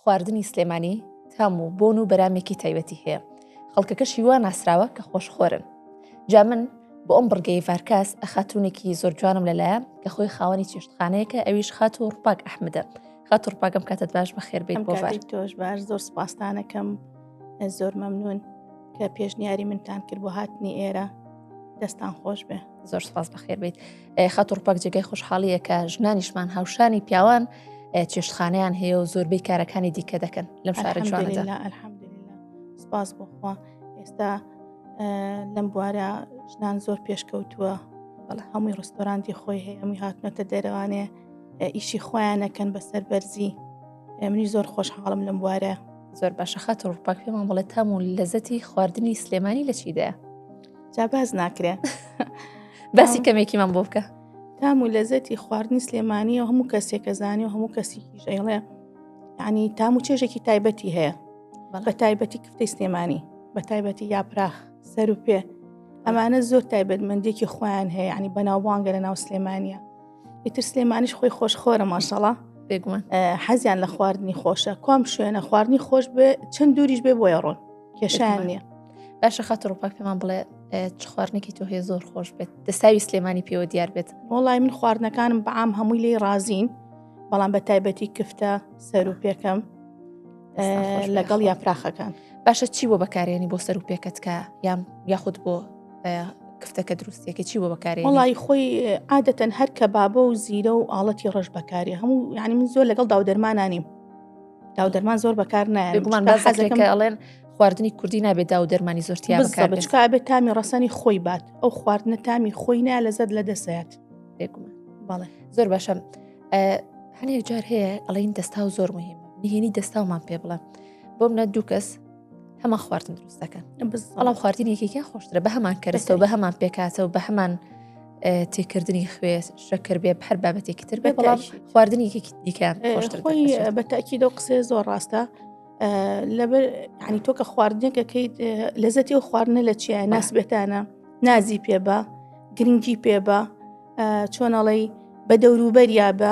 خواردنی سلێمانی تام و بۆن و بەرامێکی تایبەتی هەیە خەڵکەکەشی وا ناسراوە کە خۆشخۆرن جا من بۆ ئەم بڕگەی ڤارکاس ئەخاتونێکی زۆر جوانم لەلایە کە خۆی خاوەنی چێشتخانەیەکە ئەویش خات و ڕپاک ئەحمدە خات و ڕپاکەم کاتت باش بە خێربێت بۆ تۆش باش زۆر سپاستانەکەم زۆر مەمنون کە پێشنیاری منتان کرد بۆ هاتنی ئێرە دەستان خۆش بێ زۆر سپاس بەخێر بیت خەت و ڕپەک جێگەی خۆشحاڵیە کە ژنانیشمان هاوشانی پیاوان چێشتخانیان هەیە و زۆربەی کارەکانی دیکە دەکەن لەم شارە جواندا سپاس بۆخوا ئێستا لەم بوارە ژنان زۆر پێشکەوتووە بەڵ هەمووی ڕستۆرانتی خۆی هەیە ئەمی هاتنەتە دەرەوانێ ئیشی خۆیانەکەن بەسەر بەرزی منی زۆر خۆشحاڵم لەم بوارە زۆر باشە خەت ڕوپاک پێمان بڵێت تام و لەزەتی خواردنی سلێمانی لە چیدایە جا باز ناکرێ باسی کەمێکیمان بۆ بکە تام و لەزەتی خواردنی سلێمانیە هەموو کەسێکە زانانی و هەموو کەسی ژەڵێ ینی تام و چێژێکی تایبەتی هەیە بە تایبەتی کفتەی سلێمانی بە تایبەتی یاپراخ سەر و پێ ئەمانە زۆر تایبەتمەندێکی خۆیان هەیە ینی بەناوبانگە لە ناو سلێمانە ئیتر سلێمانیش خۆی خۆش خۆرە ماشەڵە بێگومان حەزیان لە خواردنی خۆشە کام شوێنە خواردنی خۆش بێ چەند دووریش بێ بۆیە ڕۆن کێشیان نییە باشە خاتر ڕوپاک پێمان بڵێ چ خواردنێکی تۆ هەیە زۆر خۆش بێت دەساوی سلێمانی پێوە دیار بێت وڵی من خواردنەکانم بەعام هەمووی لی ڕازین بەڵام بە تایبەتی کفتە سەر و پێکەم لەگەڵ یا پراخەکان باشە چی بۆ بەکارێنی بۆ سەر و پێکەتکە یان یاخود بۆ کفتەکە دروستێکی چی بۆ بەکارێ وڵی خۆی عادەتەن هەر کە بابە و زیرە و ئاڵەتی ڕەش بەکاری هەموو یعنی من زۆر لەگەڵ داودەرمانانیم داو دەرمان زۆر بەکار نایڵێن خواردنی کوردی نابێت دا و دەرمانی زۆرتیا بکاربێت تامی ڕسەنی خۆی بات ئەو خواردنە تامی خۆی نای لە زەر لە دەسەت بەڵێ زۆر باشە هەنێک جار هەیە ئەڵین دەستا و زۆر مهمە نهێنی دەستاومان پێ بڵێ بۆم نە دوو کەس هەمان خواردن دروست دەکەن بەڵام خواردن یەکێکیان خۆشترە بە هەمان کەرەستەوە بە هەمان پێکاتەوە بە هەمان تێکردنی خوێ شەکر بێ هەر بابەتێکی تر بێ بەڵام خواردنی دیکەیان بەتاکی دە قسێ زۆر ڕاستە لەبەر ینی تۆ کە خواردنێکەکەیت لەزەتی و خواردنە لە چیە ناس بێتانە نازی پێ بە گرنگی پێ بە چۆنەڵی بە دەوروبەریا بە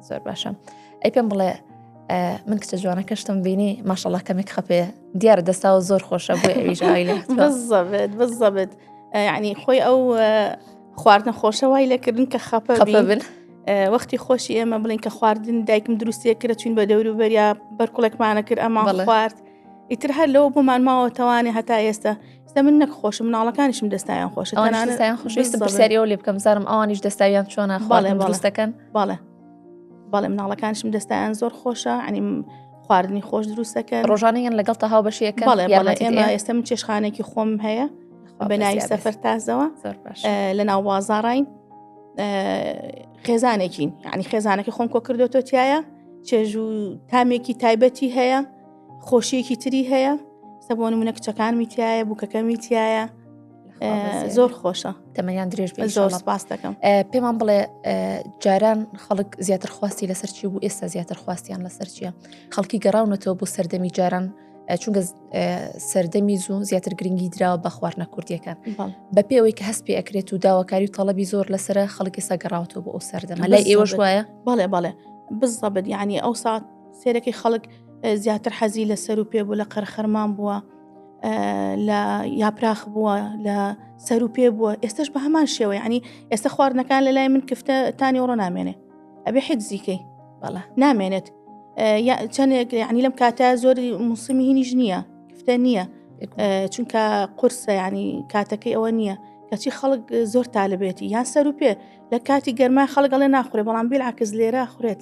زۆر باشە ئەی پێم بڵێ من کچە جوانەکە شتم بینی ماشەڵە کەمێک خەپێ دیارە دەستاوە زۆر خۆشە بۆ ئەویژای لە بزەبێت بزەبێت ینی خۆی ئەو خواردنە خۆشە وای لەکردن کە خەپە بن. وەختی خۆشی ئێمە بڵین کە خواردن دایکم دروستە کرە چوین بە دەور و بەریا بەرکوڵێکمانە کرد ئەمان خوارد ئیتر هەر لەوە بۆمان ماوەتەوانێ هەتا ئێستا دە من نەک خۆشم مناڵەکانیشم دەستایان خۆش ئەوانیان خۆشویستم بەسەریەوە لێ بکەم زارم ئەوانیش دەستاویان چۆنە باڵێ باڵستەکەن باڵێ باڵێ مناڵەکانشم دەستایان زۆر خۆشە ئەنیم خواردنی خۆش دروستەکە ڕۆژانیان لەگەڵ تەها بەشیەکە ئێمە ئێستا من چێشخانێکی خۆم هەیە بەناوی سەفەر تازەوە لە ناو بازاڕین خێزانێکین ینی خێزانەکە خۆم کۆ کردوەوە تایە چێژ و تامێکی تایبەتی هەیە خۆشیەکی تری هەیە سەبوون منە کچەکانمی تایە بووکەکەمی تایە زۆر خۆشە تەمەیان درێژ بێ زۆر سپاس دەکەم پێمان بڵێ جاران خەڵک زیاتر خواستی لەسەر چی بوو ئێستا زیاتر خواستیان لەسەر چیە خەڵکی گەڕاونەتەوە بۆ سەردەمی جاران چونگە سەردەمی زوو زیاتر گرنگی دراوە بە خواردنە کوردیەکان بە پێوەی کە هەست پێ ئەکرێت و داواکاری و تەڵەبی زۆر لەسرە خەڵکی سەگەڕاوەوە بۆ ئەو سەردەمە لای ئێوەش وایە بەڵێ بەڵێ بزەبت یعنی ئەو ساعت سێرەکەی خەڵک زیاتر حەزی لە سەر و پێ بوو لە قەرخەرمان بووە لە یاپراخ بووە لە سەر و پێ بووە ئێستش بە هەمان شێوەی عنی ئێستا خواردنەکان لە لای من کفتە تانی ئەوڕۆ نامێنێ ئەبێ حیدزیکەی بەڵە نامێنێت چەندێک عنی لەم کاتە زۆری موسمی هینیش نییە کفتە نییە چونکە قرسە ینی کاتەکەی ئەوە نییە کەچی خەڵک زۆر تالبێتی یان سەر و پێ لە کاتی گەرما خەڵگەڵێ ناخورێ بەڵام بیل عکس لێرە خورێت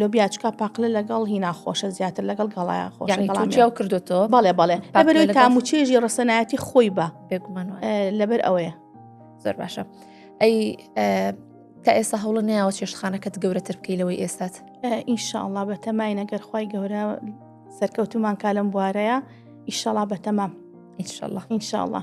لۆبیا چکا پاقلە لەگەڵ هی ناخۆشە زیاتر لەگەڵ گەڵایان خۆشیاو کردوەوە بەڵێ بەڵێ بەبەرەوەی تاموچێژی ڕسەنایەتی خۆی بە بێگومان لەبەر ئەوەیە زۆر باشە ئەی تا ئێستا هەوڵە نیاوە چێشتخانەکەت گەورەتر بکەی لەوەی ئێستات ئینشاءله بە تەمای نەگەر خی گەورە سەرکەوتومان کالم بوارەیە ئیشەڵا بە تەمام ئینشاءله ئینشاءله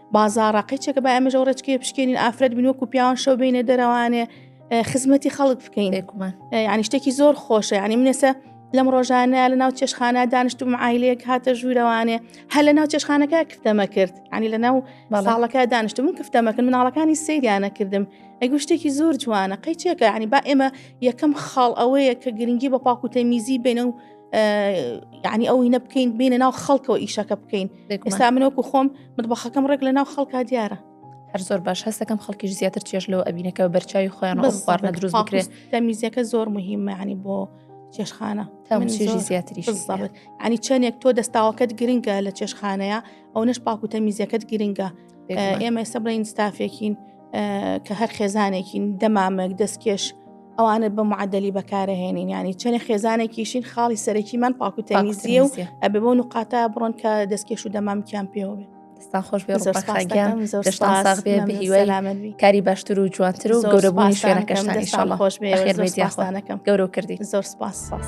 بازاڕە قەیچەکە با ئەمەژە و ڕێچکێ پشکێنین ئافرەت بن وەکو پیاوان شەو بینە دەرەوانێ خزمەتی خەڵک بکەین ینی شتێکی زۆر خۆشە ینی منێسە لەم ڕۆژانە لە ناو چێشخانە دانیشتم عیلەیەک هاتە ژوورەوانێ هەر لە ناو چێشخانەکە کفتەمە کرد ینی لە ناو ماڵەکە دانیشتم من کفتەمەکرد مناڵەکانی سریانە کردم ئەگو شتێکی زۆر جوانە قەیچێکە ینی با ئێمە یەکەم خاڵ ئەوەیە کە گرنگی بە پاکوتە میزی بێنە و یعنی ئەو هینە بکەین بینە ناو خەڵکەوە ئیشەکە بکەین ئێستا منۆکو خۆم مطبخەکەم ڕێک لە ناو خەڵکا دیارە هەر زۆر باش هەستەکەم خەڵکیش زیاتر چێش لەوە ئەبینەکەەوە بەرچوی خۆیان بەخواردنە دروست بکرێت تەمیزیەکە زۆر مهمەعنی بۆ چێشخانە تاژی زیاتری ینی چەندێک تۆ دەستاوەکەت گرنگە لە چێشخانەیە ئەو نش پاکو تەمیزیەکەت گرنگە ئێمە ئێستا بڵین ستافێکین کە هەر خێزانێکین دەمامک دەستکێش ئەوانە بە معدلی بەکارەهێنین ینی چەنێ خێزانێکیشین خاڵی سەرەکیمان پاکو تەمیزیە و ئەبێ بۆ نقاتا بڕۆن کە دەستکێش و دەمامکیان پێوێ دەستان خۆش بێ کاری باشتر و جوانتر و گەورەبووی شوێنەکەشتان شڵ خۆش بێ خێرمێدیانەکەم گەورە کردی زۆر سپاس ساس.